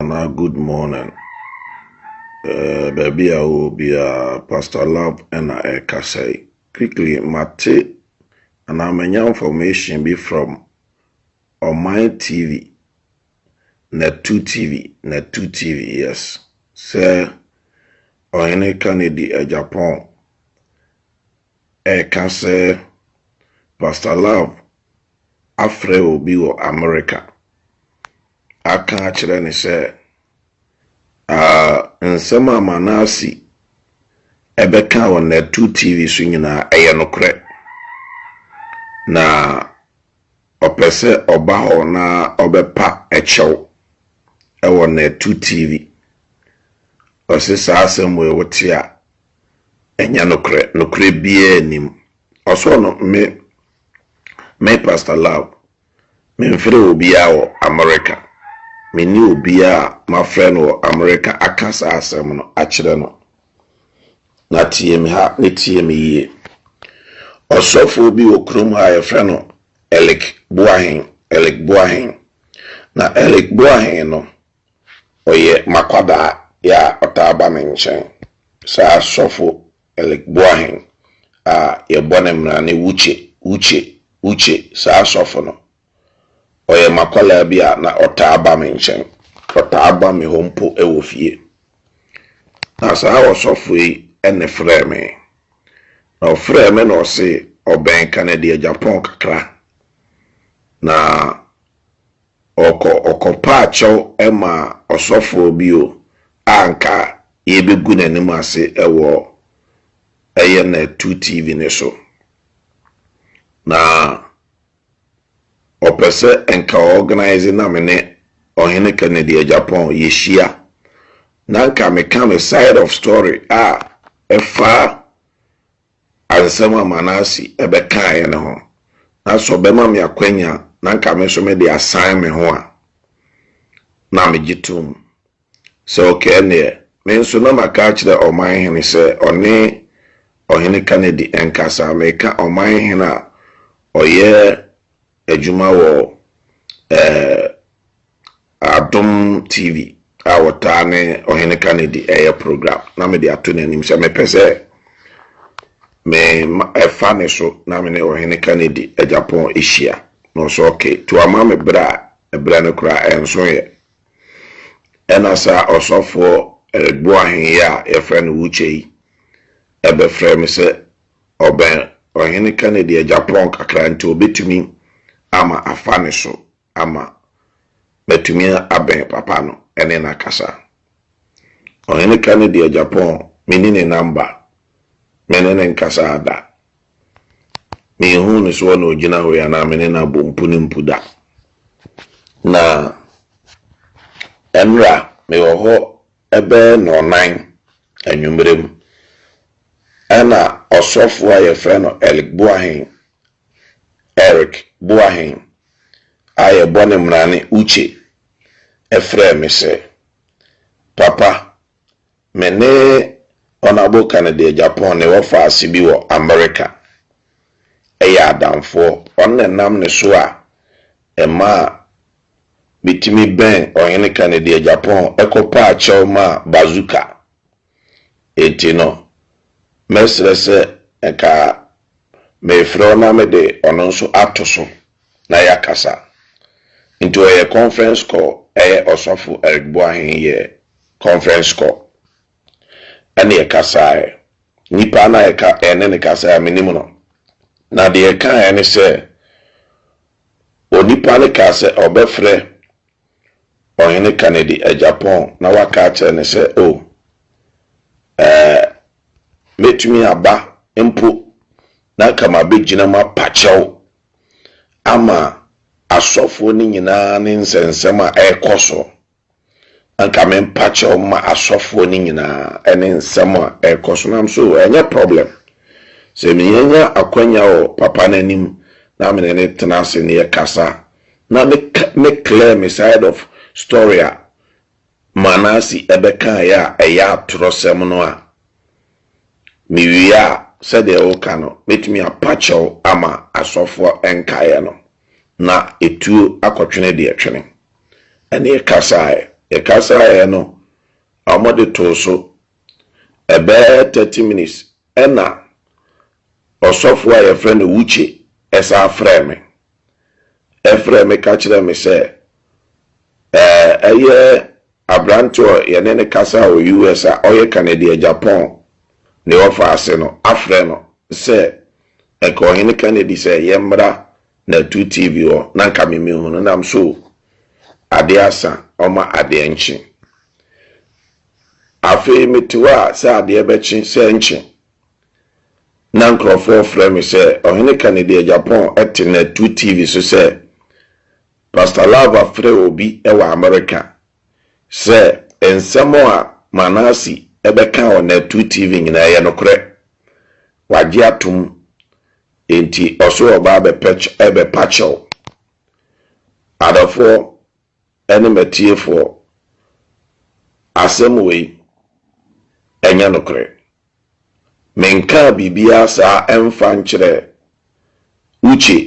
anaa good morning. Eh, baabi a wɔ biara, Pastor Love na ɛrekasa yi. Quickly, mate anaa manya information bi from Ɔman TV, Natu TV, Natu TV, yes, sɛ Ɔhene Kennedy Agyapong ɛka sɛ, Pastor Love afrɛ obi wɔ Amerika aka akyerɛ no sɛ, Ah, nsɛm a Manasi bɛkaa wɔ Natu TV so nyinaa, ɛyɛ nokorɛ. Na ɔpɛ sɛ ɔba hɔ na ɔbɛpa kyɛw wɔ Natu TV. Ɔse, Saa asɛm wei wote a, Ɛnyɛ nokorɛ, nokorɛ biara nnim. Ɔsɔɔ no me me Pastor Lau, memfrɛɛ obiara wɔ Amerika, menni obiara a mafrɛ no wɔ Amerika aka saa asɛm no akyerɛ no. Na tie me ha ne tie me yie. Ɔsɔfoɔ bi wɔ kurom ha a yɛfrɛ no Eric Boahen, Eric Boahen. Na Eric Boahen no, Ɔyɛ m'akwadaa bi a ɔtaa ba me nkyɛn. Saa sɔfo Eric Boahen a yɛbɔ no mmara ne Uche, Uche, Uche, saa sɔfo no. Ɔyɛ m'akwadaa bi a na ɔtaa ba me nkyɛn. Ɔtaa ba me hɔ mpo wɔ fie. Na saa ɔsɔfo yi na ɛfrɛɛ me. Na ɔfrɛɛ me na ɔse ɔbɛn Kennedy Agyapong kakra. Na Ɔkɔ ɔkɔpaa kyɛw maa ɔsɔfoɔ bi o a nka yɛbɛgu n'anim ase wɔ ɛyɛ na tu TV no so. Na ɔpɛ sɛ nka ɔɔganaize na me ne Ɔhene Kennedy Agyapong yɛhyia na nka meka me side of story a ɛfa Nsɛm a Manase bɛkaeɛ no ho, na sɛ ɔbɛma me akwanya na anka me nso mede asan me ho a, na megye tom. Sɛ ɔka ɛnneɛ, me nso na maka akyerɛ ɔman hene sɛ ɔne Ɔhene Kanedi nkasa, mereka ɔman hene a ɔyɛ adwuma wɔ ɛɛ Adom TV a wɔtaa ne Ɔhene Kennedy yɛ program na mede ato n'anim sɛ mepɛ sɛ me ɛfa ne so na me ne Ɔhene Kennedy Japan hyia na ɔsɛ ɔke to ama me berɛ a ɛberɛ no koraa ɛnso yɛ ɛna saa ɔsɔfoɔ Boahen yi a yɛfrɛ no Wuche yi ɛbɛfrɛ me sɛ ɔbɛn Ɔhene Kennedy Japan kakra nti ɔbɛtumi ama afa ne so ama matumi abɛn papa no ne no akasa. Ɔhene Kennedy Agyapong menni ne namba, me ne no nkasaa da. Menhuu no soɔ na ɔgyina hɔ yi anaa me ne no abɔ mpu ne mpu da. Na ɛnora mewɔ hɔ ɛbɛyɛ nnɔnan anwummerɛ mu ɛna ɔsɔfoɔ a yɛfrɛ no Elk Boahen Eric Boahen a yɛbɔ no mmara ne Uche frɛɛ me sɛ, Papa, me ne Honourable Kennedy Agyapong ne wɔ faase bi wɔ Amerika yɛ adamfoɔ. Ɔno na ɛnam ne so a ɛmaa metumi bɛn Ɔhene Kennedy Agyapong kɔpaa kyɛw maa Bazooka. Enti no, mɛsrɛ sɛ nka mefrɛ wo na mede ɔno nso ato so na yɛakasa. Nti ɔyɛ conference call, ɛyɛ Ɔsɔfo Eric Boahen yɛ conference call. Ɛne yɛkasaeɛ. Nipa no a yɛka, yɛne no kasaeɛ, menim no. Na deɛ ɛkaeɛ ne sɛ, onipa no kaa sɛ ɔbɛfrɛ Ɔhene Kennedy agya Paul na waka akyerɛ no sɛ, Oh, ɛɛ, mɛtumi aba mpo na anka mabɛgyina mu apa kyɛw ama asɔfoɔ no nyinaa ne nsɛnsɛm a ɛrekɔ so. Anka mempa kyɛw mma asɔfoɔ no nyinaa ɛne nsɛm a ɛrekɔ so. Nam so, ɛnyɛ problem. Sɛ menya akwanya wɔ papa no anim na mene no tena ase ne yɛkasa Na me me clear me side of story a Manasi ɛbɛkaeɛ a ɛyɛ atorɔsɛm no a, me wie a sɛdeɛ woka no mɛtumi apa kyɛw ama asɔfoɔ nkaeɛ no na ɛtuo akɔtwene deɛ ɛtwene. Ɛne yɛkasaeɛ yɛkasaeɛ no wɔde too so ɛbɛyɛ thirty minutes ɛna ɔsɔfoɔ a yɛfrɛ no Uche ɛsan frɛɛ me. frɛɛ me ka kyerɛɛ me sɛ ɛyɛ aberante a yɛne no kasaa wɔ US. a ɔyɛ Canadian Japan ne ɔfa ase no afrɛ no sɛ ɛka Ɔhene Kennedy sɛ yɛmmra na tu TV hɔ na nka me mehu no nam so o. Adeɛ asa, ɔma adeɛ nkye. Afei mete hɔ a sɛ adeɛ bɛkye sɛ nkye na nkurɔfoɔ frɛ me sɛ Ɔhene Kennedy Agyapong te nnɛ to TV so sɛ Pastor Love afrɛ obi wɔ Amerika sɛ nsɛm a Manasi bɛka wɔ nnɛ to TV nyinaa ɛyɛ nokorɛ, wagye atom nti ɔse ɔreba abɛpɛkyɛ, ɛbɛpakyɛw. Adɔfoɔ, ne m'atiefoɔ asɛm wei nyɛ nokorɛ, Menkaa biribiara saa mfa nkyerɛɛ Uche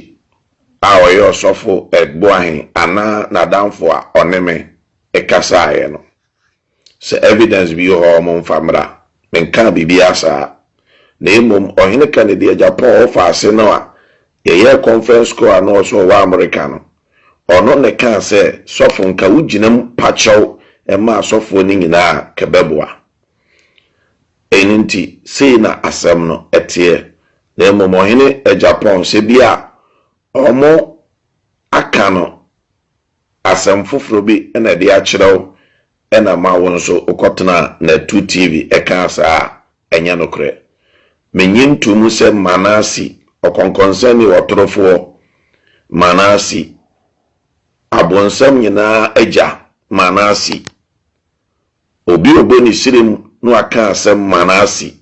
a ɔyɛ Ɔsɔfo Egboahen anaa n'adamfo a ɔne me kasaeɛ no. Sɛ evidence bi wɔ hɔ a wɔmfa mmra. Menkaa biribiara saa. Na mmom Ɔhene Kennedy agya Paul Ofaase no a yɛyɛɛ conference call a na ɔse ɔwɔ America no, ɔno na ɛkaa sɛ sɔfo nka wo gyina mu pa kyɛw mma asɔfoɔ no nyinaa a ka bɛboa. Ɛno nti sei na asɛm no teɛ. Na mmom Ɔhene agya Paul sɛ bi a wɔaka no Asɛm foforɔ bi na ɛde akyerɛ wo na ma wo nso wokɔtena Natu TV ɛkaa saa a, ɛnyɛ nokorɛ. Mennye ntoo mu sɛ Manasi, ɔkɔnkɔnsɛnni, ɔtorofoɔ, Manasi, abonsam nyinaa agya, Manasi, Obi a ɔbɔ ne srem no aka asɛm Manase,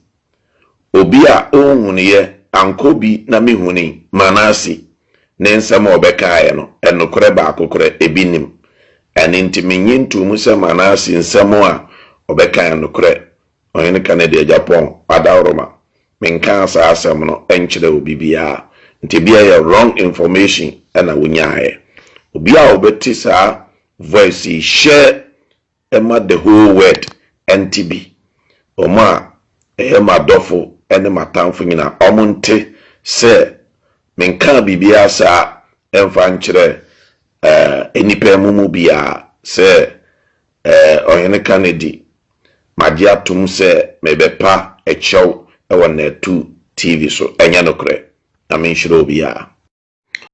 Obi a ɔnhunuiɛ ankɔ bi na me hunui, Manase, ne nsɛm a ɔbɛkaeɛ no, nokorɛ baako korɛ, ebi nnim. Ɛno nti mennye ntoo mu sɛ Manase nsɛm a ɔbɛka yɛ nokorɛ, Ɔhene ka ne deɛ Gyapɔn adaworoma. Menkaa saa asɛm no nkyerɛɛ obi biara, nti ebia ɛyɛ wrong information na wonyaaeɛ. Obi a ɔbɛte saa voice yi, hyɛ ma The Whole Word nte bi, wɔn a ɛyɛ m'adɔfo ne m'atamfo nyinaa, wɔnte sɛ menkaa biribiara saa mfa nkyerɛɛ nnipa mo mu biara sɛ Ɔhene Carnegie, magye atom sɛ mebɛpa kyɛw wɔ Natu TV so. Ɛnyɛ nokorɛ, na menhyira obiara.